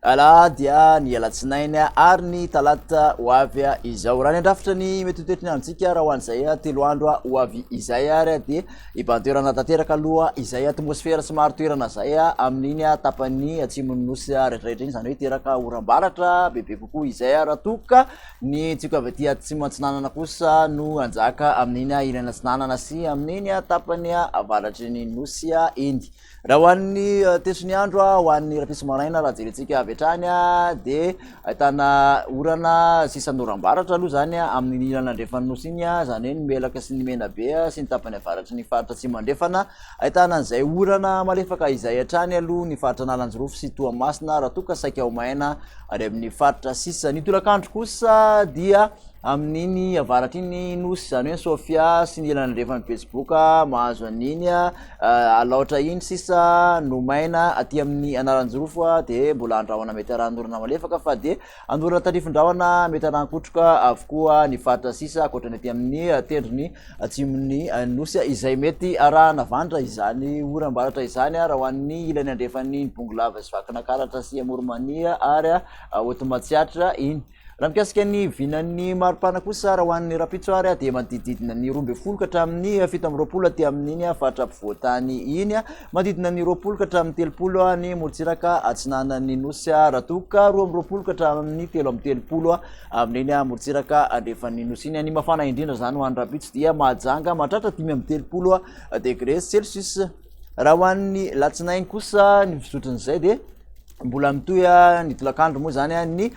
Alahady, ny alatsinainy ary ny talata ho avy izao. Raha ny andrafitra ny mety ho toetry ny androntsika raha ho an'izay telo andro ho avy izay ary dia hibantoerana tanteraka aloha izay atmosfera somary toerana izay amin'iny tapan'ny atsimon'ny nosy rehetrarehetra iny, izany hoe hiteraka oram-baratra bebe kokoa izay raha toa ka ny tsiko avy aty atsimo atsinanana kosa no hanjaka amin'iny ilany atsinanana sy amin'iny tapan'ny avaratry ny nosy iny. Raha ho an'ny tetry ny andro ho an'ny rahampitso maraina raha jerentsika avy hatrany dia ahitana orana sisan'oram-baratra aloha zany amin'ny ilana andrefan'ny nosy iny zany hoe ny melaka sy ny menabe sy ny tapany avaratry ny faritra atsimo andrefana ahitana an'izay orana malefaka izay hatrany aloha ny faritra analanjirofo sy toamasina raha toa ka saika ho maina ary amin'ny faritra sisa ny tolakandro kosa dia amin'iny avaratra iny Nosy, zany hoe Sofia sy ny ilany andrefan'ny betsiboka mahazo an'iny Alaotra iny sisa nomaina aty amin'ny Analanjirofo dia mbola andrahona mety haran'orana malefaka fa dia an'orana tarifindrahona mety harankotroka avokoa ny faritra sisa ankoatra ny aty amin'ny tendrony atsimon'ny Nosy izay mety arahana vandra izany oram-baratra izany raha ho an'ny ilany andrefan'ny Bongolava sy Vakinankaratra sy Amoronmania ary Haotomatsiatra iny. Raha mikasika ny vinan'ny maripana kosa, raha ho an'ny rahampitso ary dia manodididina ny roa ambin'ny folo ka hatramin'ny fito amby roapolo aty amin'iny faritra ampovoan-tany iny, manodidina ny roapolo ka hatramin'ny telopolo any Morontsiraka atsinanan'ny Nosy raha toa ka roa amby roapolo ka hatramin'ny telo amby telopolo amin'iny Morontsiraka andrefan'ny Nosy iny. Ny mafana indrindra izany ho an'ny rahampitso dia Mahajanga mahatratra dimy amby telopolo degre Celsius. Raha ho an'ny latsinainy kosa ny fizotrin'izay dia mbola mitohy ny tolakandro moa zany a ny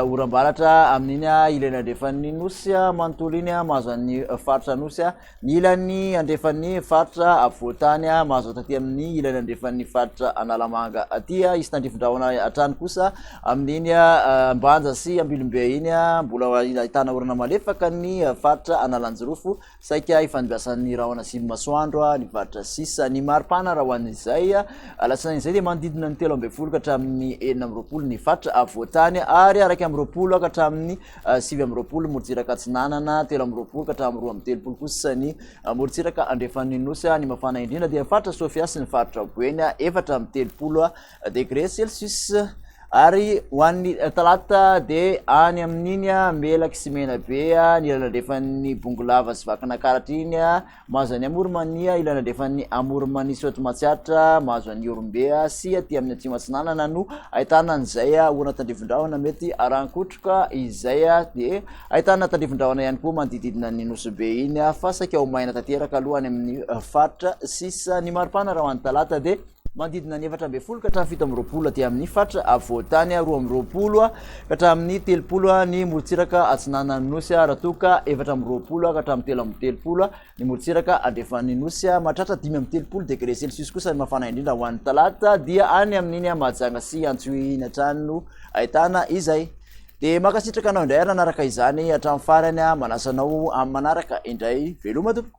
oram-baratra amin'iny a ilany andrefan'ny nosy a manontolo iny a mahazo an'ny faritra anosy a ny ilany andrefan'ny faritra afovoantany a mahazo taty amin'ny ilany andrefan'ny faritra analamanga aty a hisy tandrifin-drahona hatrany kosa amin'iny a ambanja sy ambilombe iny a mbola ahitana orana malefaka ny faritra analanjirofo Saika efa nibasan'ny rahona sivy masoandro ny varotra sisa. Ny maripana raha ho an'izay alatsinainy izay dia manodidina ny telo ambin'ny folo ka hatramin'ny enina amby roapolo ny faritra avoatany ary araiky amby roapolo ka hatramin'ny ah, sivy amby roapolo morontsiraka atsinanana, telo amby roapolo ka hatramin'ny roa amby telopolo kosa ny ah, morontsiraka andrefan'ny nosy. Ny mafana indrindra dia ny faritra Sofia sy ny faritra Boeny, efatra amby telopolo Degré Celsius, ary ho an'ny talata dia any amin'iny Melaky sy Menabe ny ilany andrefan'ny Bongolava sy Vakinankaratra iny mahazo an'i Amoronmania, ilany andrefan'ny Amoronmania sy Raotomatsiatra mahazo an'i Ihorombe sy aty amin'ny Atsimo Atsinanana no ahitana an'izay orana tandrivindrahona mety arahan-kotroka izay dia ahitana tandrivindrahona ihany koa manodididina ny Nosy Be iny fa saika ho maina tanteraka aloha any amin'ny faritra sisa ny maripana raha ho an'ny talata dia Manodidina ny efatra ambin'ny folo ka hatramin'ny fito amby roapolo aty amin'ny faritra afovoan-tany, roa amby roapolo ka hatramin'ny telopolo ny morontsiraka atsinanan'ny nosy, raha toa ka efatra amby roapolo ka hatramin'ny telo amby telopolo ny morontsiraka andrefan'ny nosy. Mahatratra dimy amby telopolo degré celsius kosa ny mafana indrindra ho an'ny talata, dia any amin'iny Mahajanga sy Antsohihy iny hatrany no ahitana izay. Dia mankasitraka anao indray ary nanaraka izany hatramin'ny farany, manasa anao amin'ny manaraka indray. Veloma tompoko!